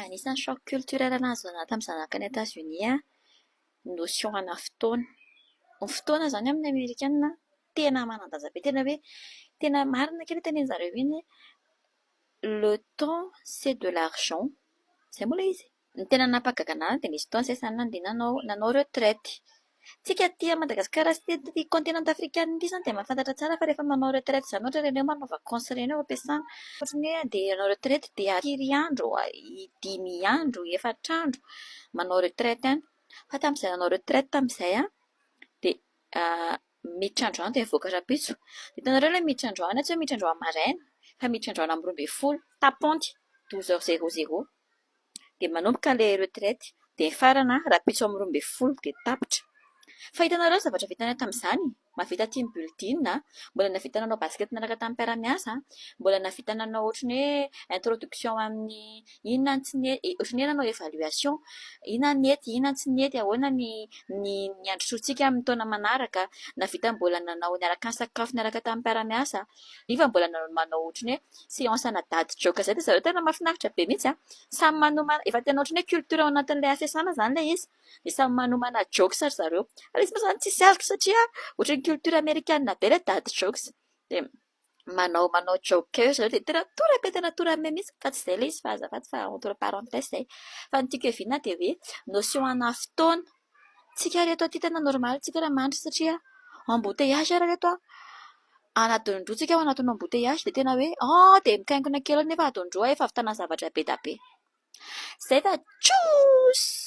Anisan'ny choc culturel nahazo ahy tamin'ny zanako any Etazonia ny notion ana fotoana. Ny fotoana izany amin'ny amerikana tena manan-danja be, tena hoe tena marina kay ilay tenenin-dry zareo iny hoe le temps c'est de l'argent. Izay moa ilay izy e. Ny tena nampahagaga ahy dia nisy fotoana izay izaho nandeha nanao retraite. Tsika aty Madagascar sy tety continent african ity zany dia mahafantatra tsara fa rehefa manao retraite zany ohatra ireny manao vacance ireny ao am-piasana ohatra ny hoe andeha hanao retraite dia firy andro dimy andro efatra andro manao retraite any fa tamin'izay nanao retraite tamin'izay aho dia miditra androany dia mivoaka rahampitso hitanareo ilay miditra androany tsy hoe miditra androany maraina fa miditra androany amin'ny roa ambin'ny folo tapante douze heures zero zero dia manomboka ilay retraite dia mifarana rahampitso amin'ny roa ambin'ny folo dia tapitra. Fa hitanareo ny zavatra vitanay tamin'izany? Mahavita team building aho, mbola nahavita nanao basket niaraka tamin'ny mpiara-miasa, mbola nahavita nanao ohatran'ny hoe introduction amin'ny inona ny tsy nety, ohatran'ny hoe nanao evaluation, inona ny nety, inona ny tsy nety, ahoana ny ny ny handrosoantsika amin'ny taona manaraka, nahavita mbola nanao niaraka nisakafo niaraka tamin'ny mpiara-miasa. Nefa mbola nanao ny manao ohatran'ny hoe seance ana dady joke izay dia zareo tena mahafinaritra be mihitsy an! Samy manomana, efa tena ohatran'ny hoe culture ao anatin'ilay hafesana izany ilay izy dia samy manomana jokes ry zareo. Ary izy moa izany tsy hisy aloka satria ohatran'ny culture amerikana be ilay dady jokes dia manao manao joke eo ry zareo dia tena tora be tena tora be mihitsy fa tsy izay ilay izy fa azafady fa entre parenthèses izay. Fa ny tiako ihaviana dia hoe notion ana fotoana. Tsika ry reto aty tena normaly tsika raha mandry satria embouteillage ary ry reto a! anatin'ny roa tsika ao anatin'ny embouteillage dia tena hoe an! dia mikaikona kely eo nefa ataondroa efa ahavitana zavatra be dia be. Zay fa tchuss!